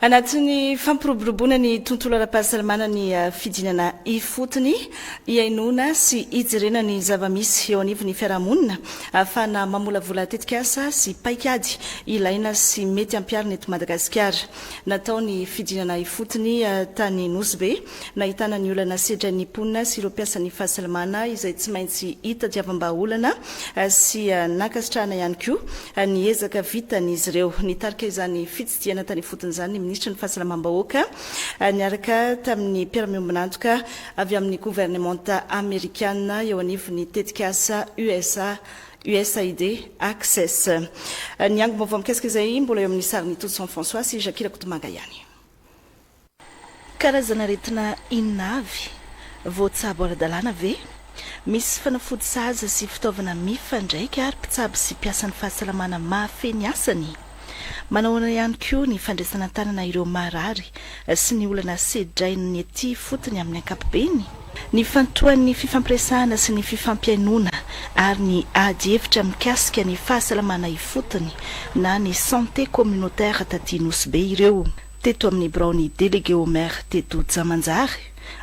Anatin'ny fampiroboroboana ny tontolo ara-pahasalamana ny fidinana ifotony hihainoana sy hijerena ny zava-misy eo anivon'ny fiarahamonina ahafahana mamolavola tetikasa sy paikady ilaina sy mety hampiharina eto Madagasikara. Natao ny fidinana ifotony tany Nosy Be. Nahitana ny olana sedran'ny mponina sy ireo mpiasan'ny fahasalamana izay tsy maintsy hitadiavam-bahaolana sy nankasitrahana ihany koa ny ezaka vitan'izy ireo. Nitarika izany fitsidihana tany ifotony izany ny minisitry ny Fahasalamam-bahoaka niaraka tamin'ny mpiara-miombon'antoka avy amin'ny governemanta amerikana eo anivon'ny tetikasa usa usaid Access. Ny angom-baovao mikasika izay mbola eo amin'ny sarin'i Todson François sy Jackie Rakotomanga ihany. Karazan'aretina inona avy? Voatsabo ara-dalàna ve? Misy fanafody sahaza sy fitaovana mifandraika ary mpitsabo sy mpiasan'ny fahasalamana mahafehy ny asany? Manahoana ihany koa ny fandraisana an-tanana ireo marary sy ny olana sedrain'ny ety ifotony amin'ny ankapobeny? Nifantohan'ny fifampiresahana sy ny fifampihainoana ary ny ady hevitra mikasika ny fahasalamana ifotony na ny santé communautaire taty Nosy Be ireo. teto amin'ny biraon'ny Délégué au Maire teto Jamanjary,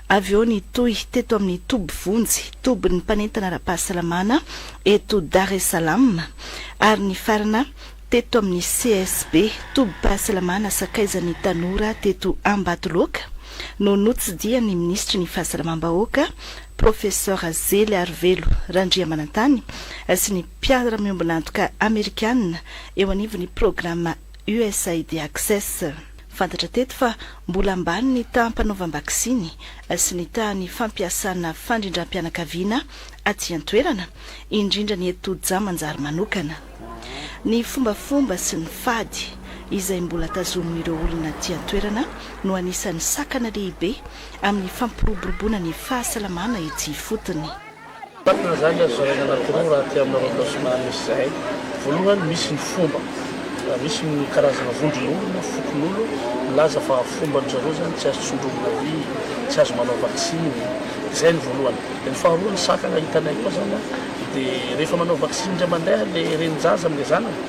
avy eo nitohy teto amin'ny toby vonjy, tobin'ny mpanentana ara-pahasalamana eto Dar es Salaam, ary nifarana teto amin'ny CSB, tobim-pahasalamana sakaizan'ny tanora teto Ambatoloaka, no notsidihan'ny Minisitry ny Fahasalamam-bahoaka, Professor Zeliarivelo Randriamanantany, sy ny mpiara-miombon'antoka Amerikana eo anivon'ny Programa USAID Access. Fantatra teto fa mbola ambany ny taham-panaovam-baksiny sy ny tahan'ny fampiasana fandrindram-pianakaviana aty an-toerana, indrindra ny eto Toja manjary manokana. Ny fombafomba sy ny fady izay mbola tazomin'ireo olona aty an-toerana no anisan'ny sakana lehibe amin'ny fampiroboroboana ny fahasalamana etsy ifotony. Fantatra izany azo zaraina anaty roa raha aty amina arrondissement misy izay. Voalohany misy ny fomba, misy ny karazana vondron'olo na fokon'olo milaza fa fomban-dry zareo izany tsy azo tsindromina vy, tsy azo manao vaksiny, izay ny voalohany. Dia ny faharoa ny sakana hitanay koa izany dia rehefa manao vaksiny indray mandeha ilay renin-jaza amin'ilay zanany,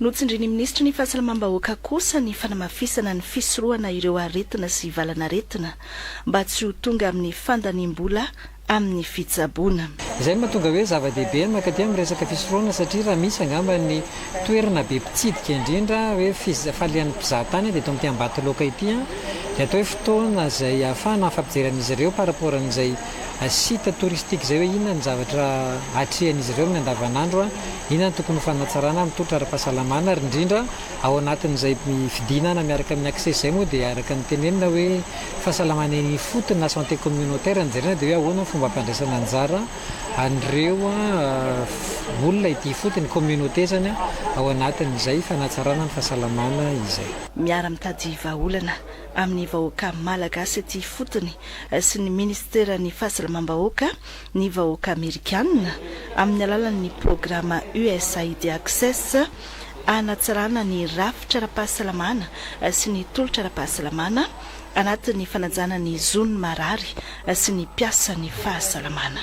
Notsindrin'ny minisitry ny Fahasalamam-bahoaka kosa ny fanamafisana ny fisorohana ireo aretina sy valanaretina mba tsy ho tonga amin'ny fandaniam-bola amin'ny fitsaboana. Izay no mahatonga hoe zava-dehibe ny mankaty amin'ny resaka fisorohana satria raha misy angamba ny toerana be mpitsidika indrindra hoe fifalian'ny mpizahatany dia eto amin'ity Ambatoloaka ity dia atao hoe fotoana izay ahafahana mifampijery amin'izy ireo par rapport amin'izay site touristique izay hoe inona ny zavatra atrehan'izy ireo amin'ny andavanandro, inona no tokony ho fanatsarana amin'ny tolotra ara-pahasalamana ary indrindra ao anatin'izay fidinana miaraka amin'ny accès izay moa dia araka ny tenenina hoe fahasalamana eny ifotony na santé communautaire no jerena dia hoe ahoana ny fomba ampandraisana anjara an'ireo olona ety ifotony, communauté izany, ao anatin'izay fanatsarana ny fahasalamana izay. Miara-mitady vahaolana. amin'ny vahoaka Malagasy aty ifotony sy ny Ministeran'ny Fahasalamam-bahoaka ny vahoaka Amerikana amin'ny alalan'ny programa USAID Access hanatsarana ny rafitra ara-pahasalamana sy ny tolotra ara-pahasalamana anatin'ny fanajana ny zon'ny marary sy ny mpiasan'ny fahasalamana.